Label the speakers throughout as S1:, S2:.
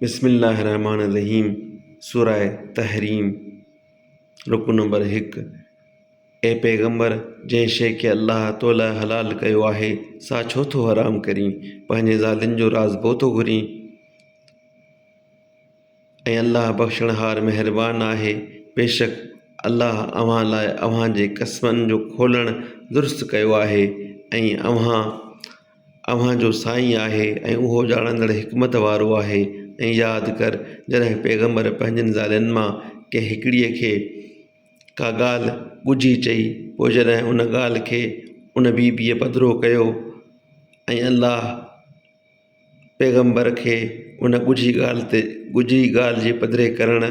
S1: بسم الله الرحمٰن الرحيم سوره تحريم رڪوع نمبر هڪ، اي پيغمبر! جنهن شيء کي الله تو لاء حلال ڪيو آهي، سا ڇو ٿو حرام ڪرين؟ پنهنجين زالين جو راض پو ٿو گهرين؟ ۽ الله بخشڻهار مهربان آهي. بيشڪ الله اوهان لاء اوهان جي قسمن جو کولڻ درست ڪيو آهي ۽ اوهان اوهان جو سائين آهي ۽ اهو ڄاڻندڙ حڪمت وارو آهي ۽ ياد ڪر جڏهن پيغمبر پنهنجين زالين مان ڪنهن هڪڙيء کي ڪا ڳالهه ڳجهي چئي پوء جڏهن ان ڳالهه کي ان بي بيء پڌرو ڪيو ۽ الله پيغمبر کي ان ڳجهي ڳالهه تي ڳجهي ڳالهه جي پڌري ڪرڻ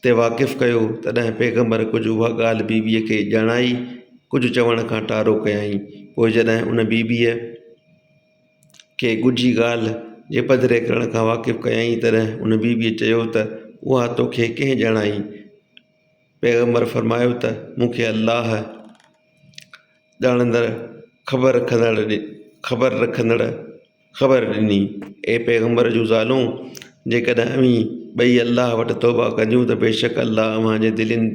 S1: تي واقف ڪيو، تڏهن پيغمبر ڪجهه اها ڳالهه بيبيء کي ڄاڻائي، ڪجهه چوڻ کان ٽارو ڪيائين. پوء جڏهن ان بيبيء کي ڳجهي ڳالهه جي پڌري ڪرڻ کان واقف ڪيائين، تڏهن ان بيبيء چيو ته، اها تو کي ڪنهن ڄاڻائي؟ پيغمبر فرمايو ته، مون کي الله، ڄاڻندڙ، خبر رکندڙ، خبر رکندڙ، خبر ڏني، اي پيغمبر جون زالون! جيڪڏهن اوهين ٻئي الله وٽ توبهه ڪنديون ته بيشڪ الله اوهان جي دلين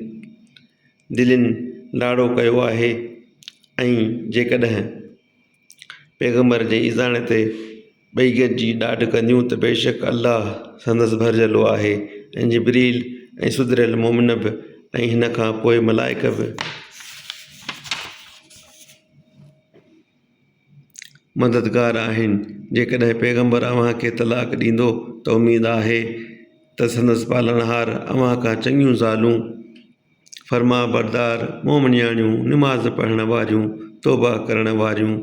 S1: دلين لاڙو ڪيو آهي ۽ جيڪڏهن پيغمبر جي ايذاڻي تي ٻئي گڏجي ڏاڍ ڪنديون ته بيشڪ الله سندس ڀرجهلو آهي ۽ جبريل ۽ سڌريل مومن به ۽ ان کان پوء ملائڪ به مددگار آهن. جيڪڏهن پيغمبر اوهان کي طلاق ڏيندو ته اميد آهي ته سندس پالڻهار اوهان کان چڱيون زالون، فرمانبردار، مومنياڻيون، نماز پڙهڻ واريون، توبه ڪرڻ واريون،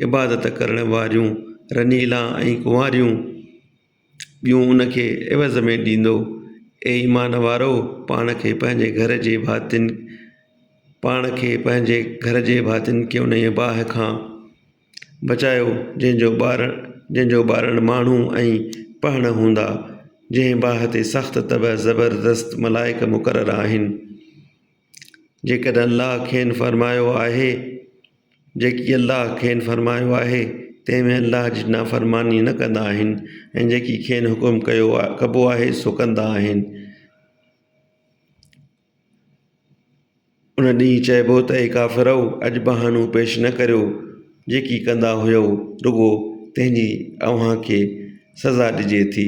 S1: عبادت ڪرڻ واريون، رنيلان ۽ ڪنواريون، ٻيون ان کي عوض ۾ ڏيندو. اي ايمان وارؤ! پاڻ کي پنهنجي گهر جي ڀاتين پاڻ کي پنهنجي گهر جي ڀاتين کي انهيء باهه کان بچايو، جنهن جو ٻار جنهن جو ٻارڙ ماڻهو ۽ پهڻ هوندا، جنهن باهه تي سخت طبع زبردست ملائڪ مقرر آهن. جيڪڏهن الله کين فرمايو آهي، جيڪي الله کين فرمايو آهي، تنهن ۾ الله جي نافرماني نه ڪندا آهن ۽ جيڪي کين حڪم ڪيو ڪبو آهي سو ڪندا آهن. ان ڏينهن چئبو ته اي ڪافرؤ! اڄ بهانو پيش نه ڪريو، جيڪي ڪندا هيؤ، رڳو تنهن جي اوهان کي سزا ڏجي ٿي.